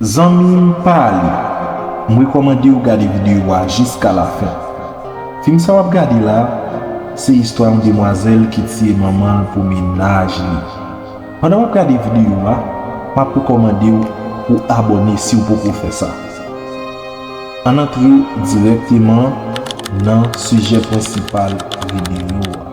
Zanmim pa ale, m rekomandew gade video a jiska la fen. Fim sa wap gade la, se istwa yon demwazel ki tiye manmanl pou mennaj li. Pandan wap gade video a, map rekomandew pou abone siw poko fè sa. Ann antre direkteman nan sijè prensipal video a.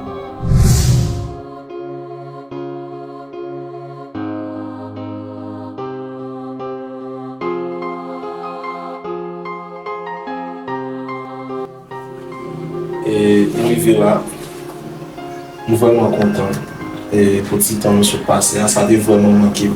rive la m vrèman kontan pou ti tan nou sot pase a sa te vrèman manke m.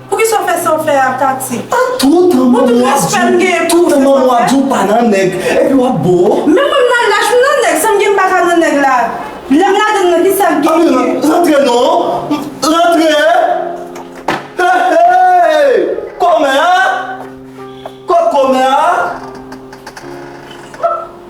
Poukisa w fè sa w fè a Tati? A toutan manman w ap di w toutan manman w ap di w pa nan nèg epi w ap bo? Men mwen m nan lach m nan nèg sa m gen m pa ka nan nèg la lè m ladann nan ki sa m gen m gen? Rantre non rantre Hey kòmè a kot kòmè a?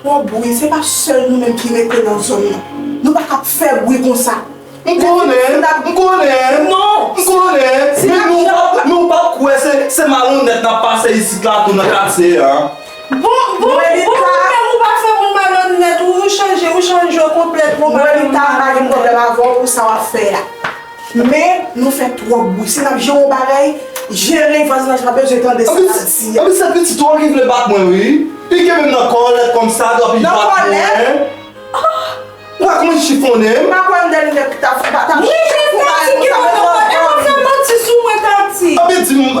Twòp bwi se pa sèl nou menm ki rete nan zòn nan nou pa kap fè bwi konsa m konnen m konnen m konnen men nou pap kwè se malonnèt nap pase isit la tou nan katye an bon bon bon nou menm ou pa fè bri malonnèt ou chanje ou chanje konplètman Melita m pa gen pwoblèm avèw pou sa wap fè a. Men nou fè twòp bwi si nap jere yon bagay jere vaz la jan nou bezwen tande sa nap di a. Anplis se pitit ou an ki vle bat mwen wi Li kenbe m nan kòlèt kòm sa dòk li bat mwen Nan kòlèt? Prak mwen chifonnen m Papa kwèm dèl nèg tap fou pa tap Mwen fè manti ki mwen tap fè Mwen fè manti sou mwen tati Anpil di m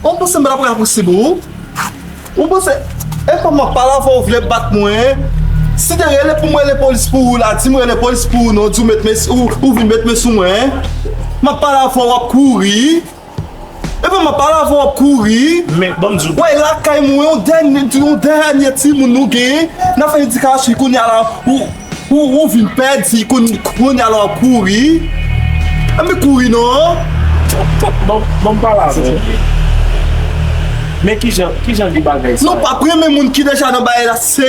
Ou panse mwen ap la pou sibi ou? Ou panse e kòm map pale avèw ou vle bat mwen? Si te rele poum rele polis pou ou la, dim rele polis pou ou non, di ou met men, ou vin met men sou mwen? Map pale avèw wap kouri? Epa map pale avèw wap kouri Men banm diw bagay Wè lakay mwen yon dènye yon dènye timoun nou gen nap fè edikasyon kounye a la ou vin pèdi kounye a la wap kouri Anpe kouri non Banm pale avèw Men kijan kijan de bagay sa yo Nou pap renmen moun ki deja nan bagay la se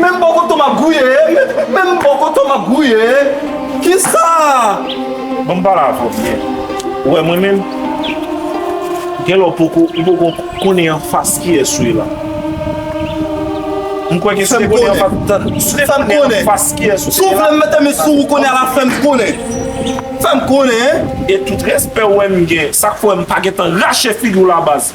Menm bò kote w map gouye e Menm bò kote w map gouye e Kisa Banm pale avè w byen Ou wè mwen menm Gen lè w poko ou poko konnen anfas kiyès ou ye la M kwè ke si w te konnen anfas Tann Si w te konnen anfas kiyès ou se ye la Si w vle m mete men sou ou kounye a la fèm konnen Fèm konnen E tout respè ou wè m gen Sak fè m pa gentan rache figi w la baz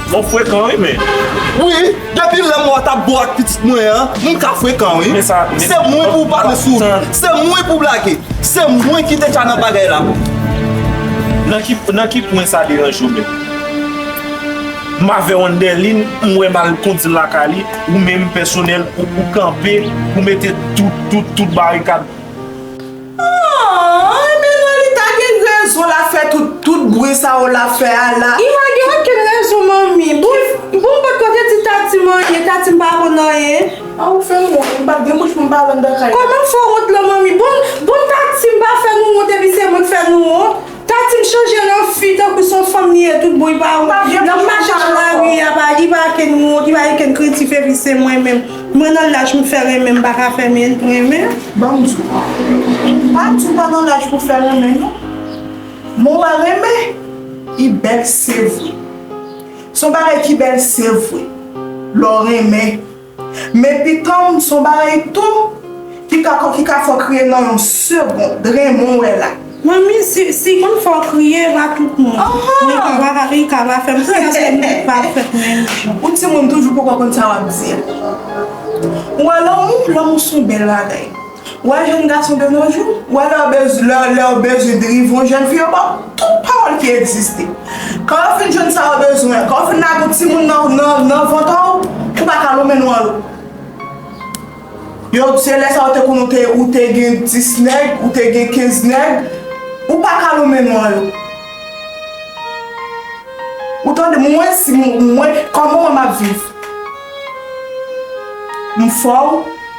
M'en frekan wi men. Wi, depi lèm wè w tap bo ak pitit mwen an, m ka frekan wi. Se mwen pou w pale sou li. Se mwen pou w blage. Se mwen ki deja nan bagay la. Nan ki pwen sa deranje w menm? M avè w an dè lin, m wè m al kondi l lakay li, ou menm pèsonèl ou kanpe, ou mete tout, tout, tout barikad. Aww men Lolita gen rezon lap fè tout bri sa yo lap fè a la. Li pa gen okenn rezon manmi. Bon m potko te di Tati m anyen, Tati m pa konn anyen. Ah ou fem wont m pat gen bouch poum pale andan kay la. Koman fè wont lan manmi. Bon Tati m pa fè nou wont epi se mwen k fè nou wont. Tati m chanje l an fi tankou s on fanm li ye tout bon epa ou nan mache nan lari a pa epa ken n wont epa ken n kretif epi se mwen menm mwen nan laj m fè renmen m paka fè men renmen ban m di ou pa di ou pa nan laj pou fè renmen non men w wè renmen li bèl se vre s on bagay ki bèl se vre lè w renmen. Men pitanm son bagay tou ki ka ki ka fè w kriye nan yon segond dremon wè la. Manmi si moun fè w kriye ba tout moun men kaba papi kaba fèm kriye paske nou tout pa fèt menm jan. Ou timoun toujou poko konn sa wap di a. Ou wè lanmou, lanmou son bèl bagay. Wè jèn gason de nos jours, wè lè yo bezwen drive yon jèn fi yo ba yo tout pawòl ki egziste. Kan yo fin jwenn sa yo bezwen an, kan yo fin lage yon timoun nan vant an ou, ou pa ka lon men nou an lo. Yo di se lè sa yo te konnen ou te gen 10 nèg, ou te gen 15 nèg, ou pa ka lon men nou an lo. Ou tande mwen si mwen, kòman mwen map viv? M fò w,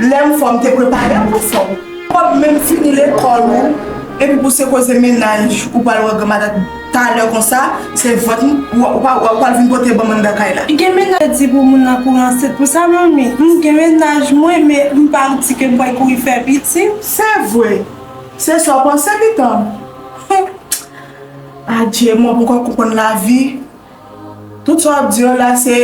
lè m fò m te prepare w pou fò. Ou pap menm fini lekòl ou epi pou se koze mennaj ou pral wè granma dat talè konsa, se vant ou pral vin pote banm anndan kay la. Gen mennaj yo di pou moun nan kouri ansent pou sa manmi? M gen mennaj mwen men m pa di ke m pral kouri fè pitit. Se vre, se sa w panse pitanm. Humm adje mwen poko konprann lavi. Tout sa wap di yo la se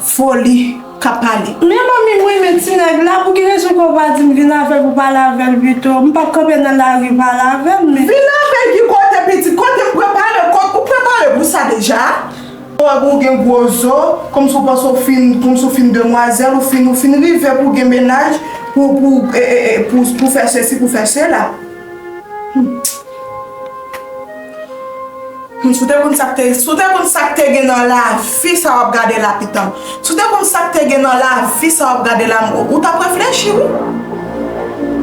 foli kap pale. Men manmi m renmen ti nèg la pou ki rezon ke w pa di m vin avè l pou pale avè l pito, m pap kanpe nan lari pale avè l men. Vin avè l ki kote pitit, kote m prepare kòt, ou prepare pou sa deja? Ou wè pou w gen gwo zo, kòmsi w panse w fin, kòmsi w fin demwazèl, ou fin, ou fin rive pou w gen mennaj, pou, pou, pou, pou fè sesi, pou fè sela. Humm. Humm si w te konn sak te si w te konn sak te gen nan lavi sa wap gade la pitanm si w te konn sak te gen nan lavi sa wap gade la ou tap reflechi wi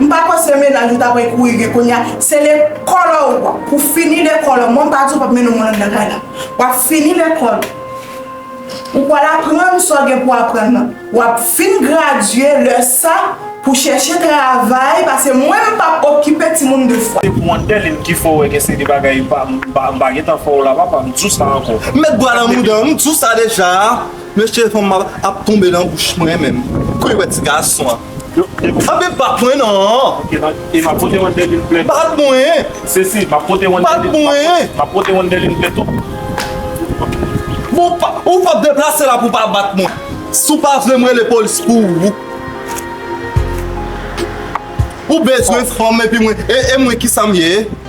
m pa kwè se menaj ou ta pre kouri gen kounya se lekòl ou pou fini lekòl ou mwen m pa di w pap mennen yon moun anndan kay la wap fini lekòl ou. Ou pwal aprann sa w gen pou aprann nan. Wap fin gradye lè sa pou chèche travay pase mwen m pap okipe timoun 2 fwa. Se pou Andeline ki fè w wè gen seri bagay m pa m pa gentan fè w la papa m di w sa ankò. M met dwa nan mouda m di w sa deja mesye fanm ap tonbe nan bouch mwen menm kou yo wè ti gason an. Anbe bat mwen nan. Ok bat. E ma pote yon dèlin plè. Bat mwen. Se si ma pote yon dèlin. Bat mwen. Ma pote yon dèlin plè tou. Bon pa ou pa deplase la pou pa bat mwen. Si ou pa vle mwen le polis pou ou. Ou bezwen fanm epi mwen e mwen ki sa m ye.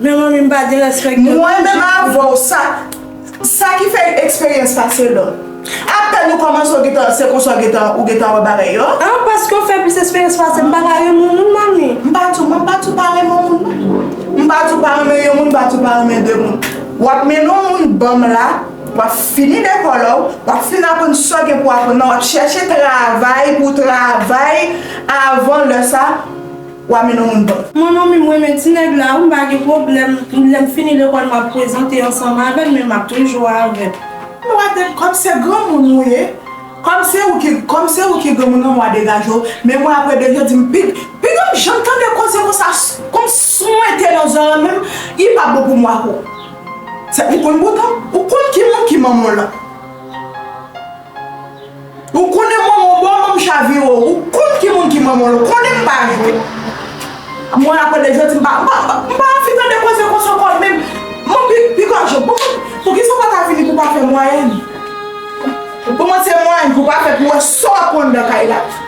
Men manmi m pa gen respect gen. Mwen menm avèw sa sa ki fè yn eksperyans pase lòt. Apèn ou kòmanse ou gentan se konsa ou gentan ou gentan wè bagay yo. Ah paske ou fè plis eksperyans pasem m paka renmen moun manmi. M pa di w mwen m pa di w pa renmen yon moun non. M pa di w pa renmen yon moun m pa di w pa renmen 2 moun. Wap mennen yon moun banm la wap fini lekòl la w wap fin aprann sa w gen pou aprann nan wap chèche travay pou w travay avan lè sa. Wa men non moun pap. Mon ami m renmen ti nèg la wi m pa gen pwoblèm lèm fini lekòl map prezante ansanm avèl men map toujou avèl. Mwen wè tèt kòm se granmoun ou ye kòm se ou ki kòm se ou ki granmoun nan mwen wè degaje w men mwen aprè de jodi m pi piga m janm tande koze konsa konn swente nan zòrèy m menm li pa bon pou mwen ak ou se ou konn bouton ou konn ki moun ki manman w lan. Ou konnen manman w bon manm chavire w ou konn ki moun ki manman l ou konnen m pa jwe a mwen apre de jodi m pa m pa anvi tande koze konsa anko e menm m anvi piga je bon poukisa w pa ta vini pou pa fè mwayenn m pou mwen se mwayenn pou pa fè pou wè sa w ap pran andan kay la tou.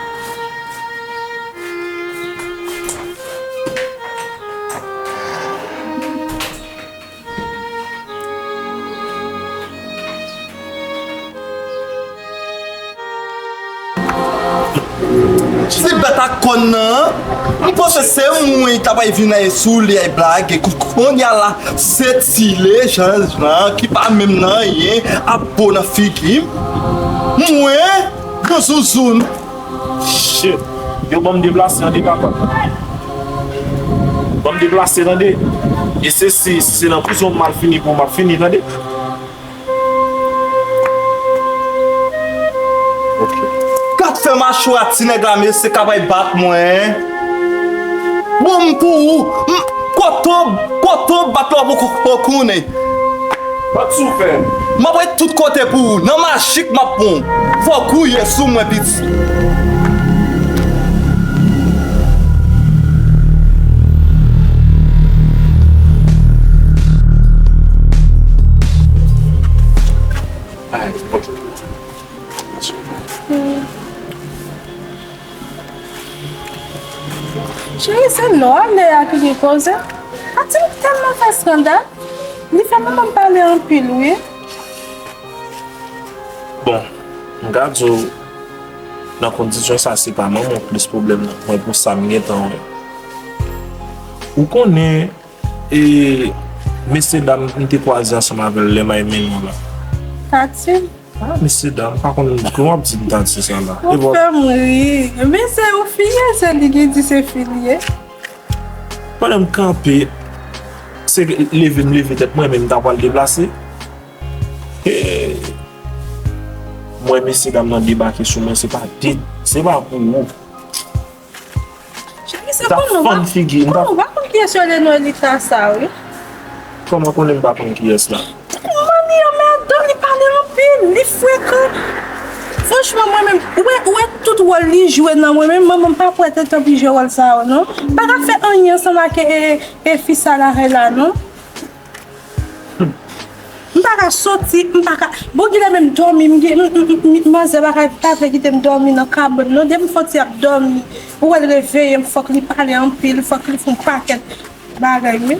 Ti bèt ak kòn nan an, m panse se mwen ta pral vin lage sou li ay blage, kounya la se ti Lejand lan ki pa menm nan anyen ap bo nan figi m, mwen, yon zouzoun. Shit Yo banm deplase ande papa Banm deplase tande E se si se nan prizon mal fini pou map fini tande Kat fè machwa ti nèg la mesye kap ay bat mwen Bon m pou ou Kotob kotob bat lwa poko konnen. Bat sou fèm. Map ret tout kote pou ou. Nan majik map pran w. Fò gouye sou mwen piti. Cheri se non a Lea ki gen koze Pati m tèlman fè skandal li fè manman m pale anpil wi Bon m ka di w nan kondisyon sa se pa manman w plis pwoblèm nan mwen pou sa m gentan wè Ou konnen E mesye dam m te kwaze ansanm avè l lè m al Meymoun an? Tati. Ah mesye dam, m pa konn pou wap di m Tati sa la. Ou fè m ri. Men se yon fi ye, se li ki di se fi li ye. Pandan m kanpe, se leve m leve tèt mwen men m ta pwal deplase, m wè mesye dam nan debake sou mwen se pa de, se pa pou ou. Cheri sa konn nou pa konn kiyes yo rele Noelita sa wi. Koman w konnen m pa konn kiyes la? Manman li anmèdan li pale anpil li frekan franchman mwen menm ou wè tout wòl li jwe nan mwen menm manman m pa pwè te tanpri jwe wòl sa yo non. Paka fè anyen ansanm ak fi sa la rèla non. M pa ka soti, m pa ka. Bon kilè menm dòmi m gen m manzè pa vle kite m dòmi nan kabon non depi m foti ap dòmi ou wè l reveye m fòk li pale anpil fòk li fon pakèt bagay wi.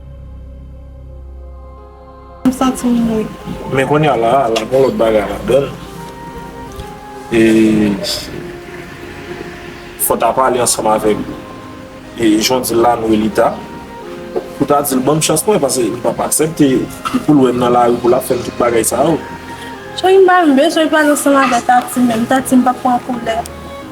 M santi m ri. Men konnya la a, la gon lòt bagay ladan l. E fò w ta pale ansanm avèk jan w di l la, Noelita, pou w ta di l ban m chans mwen paske m p ap aksepte li pou l wè m nan lari pou l ap fè m tout bagay sa yo. Choyy m pa bezwen pale ansanm avèk Tatim menm. Tatim pa pran koulè.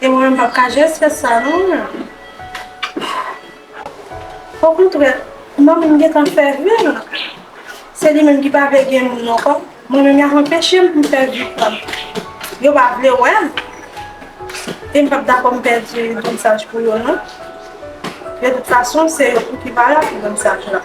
E mwen menm pap ka just fè sa non mwen. Okontrè, manmi m gentan fè vi l. Se li menm ki pa vle gen moun ankò. Mwen menm y ap anpeche m pou m fè vi pa m. Yo pa vle wè m. E m pap dakò m pèdi Donsaj pou yo non. De tout fason, se yo tou ki valab pou Donsaj la.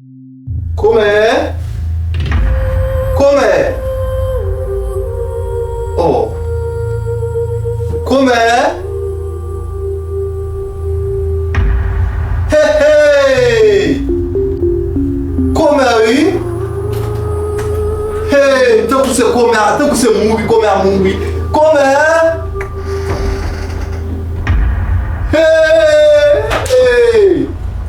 Komè! Komè! Oh! Komè! He he! Komè wi! He! Tankou se komè a, tankou se mouri komè a mouri. Komè! He! He!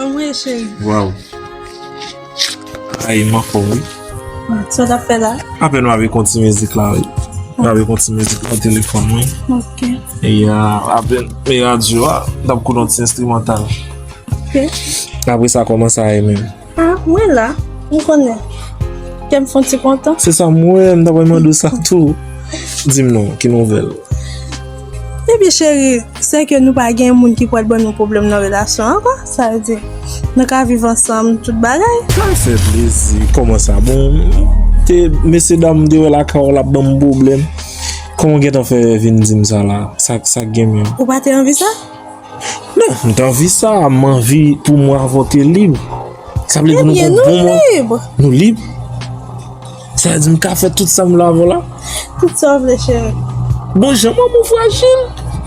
Anmweyy cheri. Waw. Ayi man fòm wi. Sa ta fè la? Ape nou ave konti mizik la wi. Nou ave konti mizik la telefon wi. Ok. E ya ape me radyo a. Dap kou don ti instrumental. Ok. Ape sa koman sa e men. Ah, mwen la, m konnen. Kè m fon ti kontan. Se sa mwen, m ta pral mande sa tou. Di m non, ki nouvèl? Epi cheri, se ke nou pa gen moun ki pral ban nou pwoblèm nan relasyon an kwa? Sa vle di, nou ka viv ansanm tout bagay? Sa m fè plezi, kòman sa? Bon, te mesye dam m te wè lakay w la ban m pwoblèm. Kòman w gentan fè vin di m sa la? Sa k gen menm? Ou pa te anvi sa? Mwen ta anvi sa, mwen anvi pou mwen avòte lib. Sa vle di nou eh bon mwen. Nou lib. Sa vle di mwen ka fè tout sa mwen la vò la. Tout sa vle chè. Bon jè mwen mwen frajil.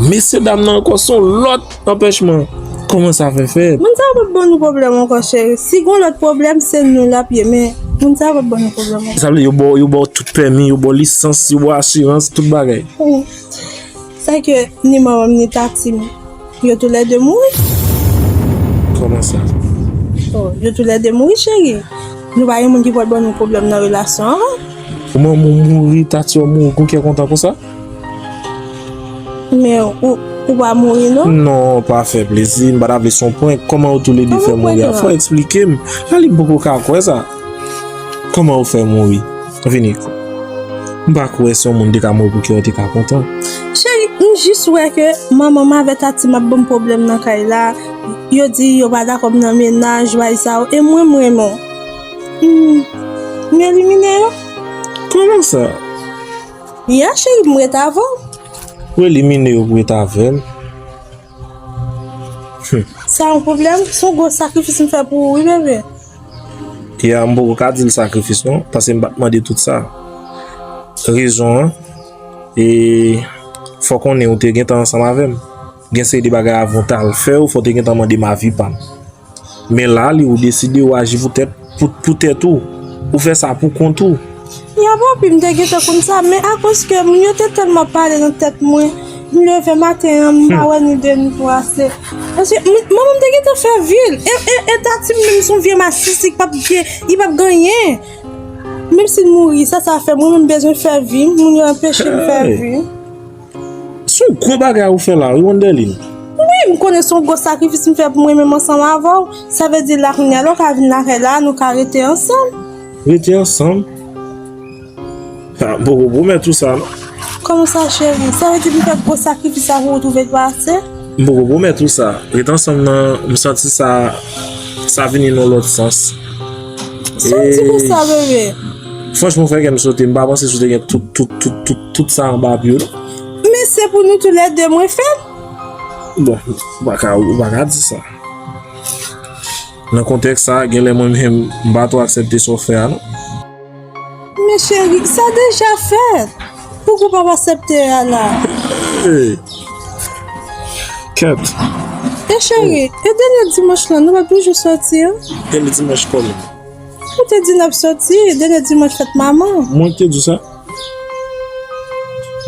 Mesye dam nan ankon son lòt anpèch mwen. Koman sa fè fè? Mwen ta vle bon nou problem ankon chè. Si gwen lòt problem se nou la pye men. Mwen ta vle bon nou problem ankon. Sa vle yo bò tout pèmi, yo bò lisans, yo bò asirans, tout bagay. Ou. Sa ke ni manmanm ni tatim yo tou lè 2 mouri? Kòman sa? Oh yo tou lè 2 mouri cheri. Nou pa gen moun ki pot ban nou pwoblèm nan relasyon an non. Ou manmanw mouri, tatiw mouri ou gon kè kontan konsa? Men ou ou pa mouri non. Non pa fè plezi, m pa ta vle son prank, kòman yo tou lè 2 fè mouri a? Fò eksplikem, Lalim poko ka kwè sa. Kòman ou fè mouri? Vini kou. M pa kwè si yon moun te ka mouri pou kè ou te ka kontan. Cheri, m jis wè ke manman m avè Tati m ap ban m pwoblèm nan kay la. Yo di yo pa dakò m nan mennaj, way sa yo. E mwen m renmen w. M elimine yo. Kòman sa? Ya cheri, m ret avè w. Ou elimine yo pou ret avè m? Sa yon problem? Se yon gwo sakrifis m fè pou ou wi bebe. Keyè m poko ka di l sakrifis non, paske m pa t mande tout sa. Rezon an, e fò konnen ou te gentan ansanm avè m. Gen seri de bagay avan w t al fè yo, fò w te gentan mande m avi pa m. Men la li ou deside ou aji pou tèt pou tèt ou. Ou fè sa pou kont ou. Ya papi m te gentan konn sa men akoz ke moun yo te tèlman pale nan tèt mwen m leve maten an m pa wè ni de ni twa se paske manman m te gentan fè vi l e tati m menm son vye masisi ki pap gen li pap gen anyen menm si l mouri sa sa fè mwen menm m bezwen fè vi m moun yo anpeche m fè vi m. Se yon gwo bagay ou fè la wi Wendeline. Wi, m konnen se yon gwo sakrifis m fè pou m renmen m ansanm avè w. Sa vle di la kounya lè w ka vin lakay la a nou ka rete ansanm. Rete ansanm? M poko pwomèt ou sa non. Kòman sa cheri? Sa vle di pou m fè gwo sakrifis sa a pou w twouve l pa ase? M poko pwomèt ou sa. Rete ansanm nan m santi sa sa vini nan yon lòt sans. Sa w di konsa bebe? Franchman ou fè kè m sote. M pa panse si w te gen tout tout tout tout. Tout sa anba pye w la. Men se pou nou tou lè de mwen fè l. Bon, ou pa ka, ou pa ka di sa. Nan kontèks sa, gen lè mwen menm m pa twò aksepte sa w fè a non. Men cheri, sa deja fèt. Pouki w pap aksepte a la? Ee, kèt. E cheri, e dènye dimanch lan, nou pa toujou soti an? Dènye dimanch kòman? Ou te di n ap soti, dènye dimanch fèt manman. Mwen ki te di sa?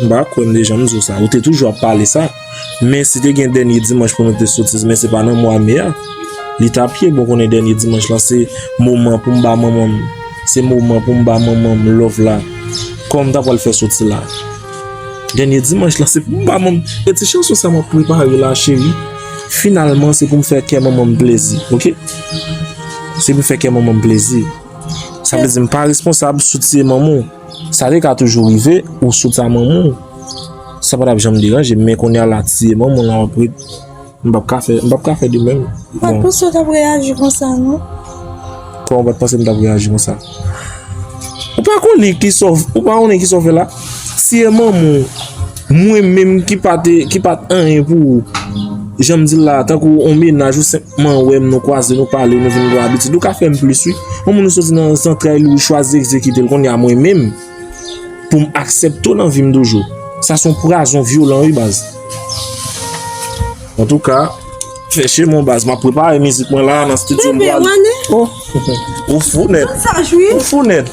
M pa kwè m te janm di w sa. Ou te toujou ap pale sa. Men si te gen dènye dimanch pou nou te sotiz men se pa nan mwa me a. Li ta pi bon konnen dènye dimanch lan se moman pou m ba manman m. Se moman pou m ba manman m love la. Kòman m ta pral fè soti la? Dènye dimanch lan se pou m ba manman m. E ti chanson sa m ap prepare la cheri. Finalman se pou m fè kè manman m plezi. Ok? Se pou m fè kè manman m plezi. Sa vle di m pa responsab sou tiye manman w. Sa te ka toujou rive ou sot a manman w. Sa pa t ap janm deranje m. Men kounye a la tiye manman w la w ap ret. M p ap ka fè, m p ap ka fè de menm. M pa t panse w t ap reyaji konsa non. Kòman w pa t panse m t ap reyaji konsa? Ou pa konnen ki sa w, ou pa konnen ki sa w fè la? Si e manman w, mwen menm ki pa te, ki pa t anyen pou ou, jan m di l la, tankou on mennaj ou senpman wè m, nou kwaze, nou pale, nou vin gen abitid, ou ka fè m plis wi. On moun ou soti nan zantray li, ou chwazi egzekite l, kounye a mwen menm, pou m aksepte w nan vi m toujou. Sa son pwazon vyolan wi baz. Antouka, chèche mwen baz, m ap prepare mizik mwen la nan stidyo m pral. Pepe, ou annik? Ou fou nèt. Ou fou nèt.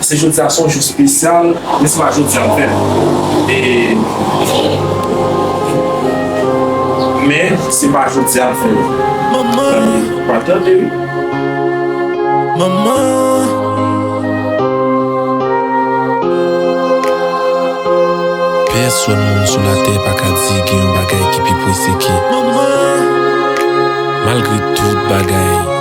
Se jodia son jou spesyal men se pa jodia m fèt e men se pa jodia m fèt zanmi pa tande wi manman. Pèsòn moun sou latè pa ka di gen yon bagay ki pi prese ke manman malgre tout bagay.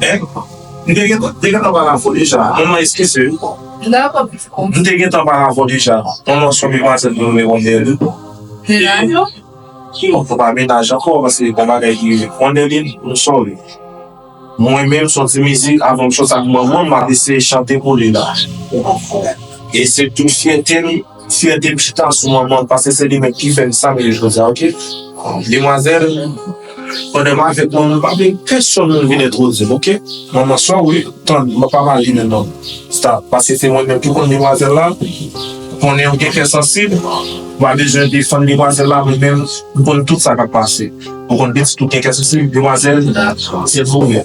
Hein? M te gentan, te gentan pale avk ou deja. Manman eskize m. Nan kòm m di konsa. M te gentan pale avk ou deja. Manman son demwazèl mwen mwen konn Nerline. Menaj ou? Non, nou pa menaj ankò paske gon bagay ki rive pran Nerline, m sòri. Mwen menm son ti mizik avan m chante ak manman m, m ap eseye chante pou li la. E se tout fyète m. Fyète m chita sou manman m paske se li menm ki fè m sa m ye jodi a ok Demwazèl pandan m avèk manman m m pa vle pèsòn moun vin entwodui m ok Manman sò wi Tann m pa pale menm non Stop paske se mwen menm ki konn demwazèl la konnen ou gen kè sansib ou pa bezwen defann demwazèl la mwen menm m konn tout sa k ap pase ou konn pitit ou gen kè sansib Demwazèl se pou ou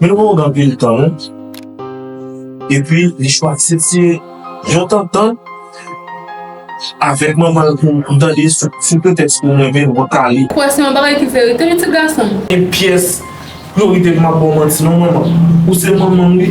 Yon moun anpil tan epi li chwazi se yon tantan avèk manman l pou m tande sou pretèks pou m renmen l wap pale. Kwè se yon bagay ki verite wi ti gason m. Gen pyès priorite m pap ba w manti non manman. Ou se manman m wi.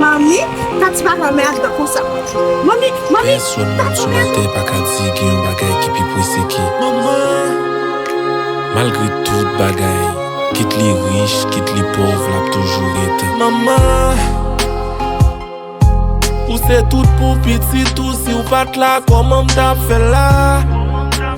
Manmi, Tatie pa renmen Adnan konsa. Manmi, manmi, Tatie gen rezon. Pèsonn sou latè pa ka di gen yon bagay ki pi prese ke manman. Malgre tout bagay, kit li rich, kit li pòv, l ap toujou ret. Manman. Ou se tout pou pitit ou, si w pa t la, kòman m t ap fè la?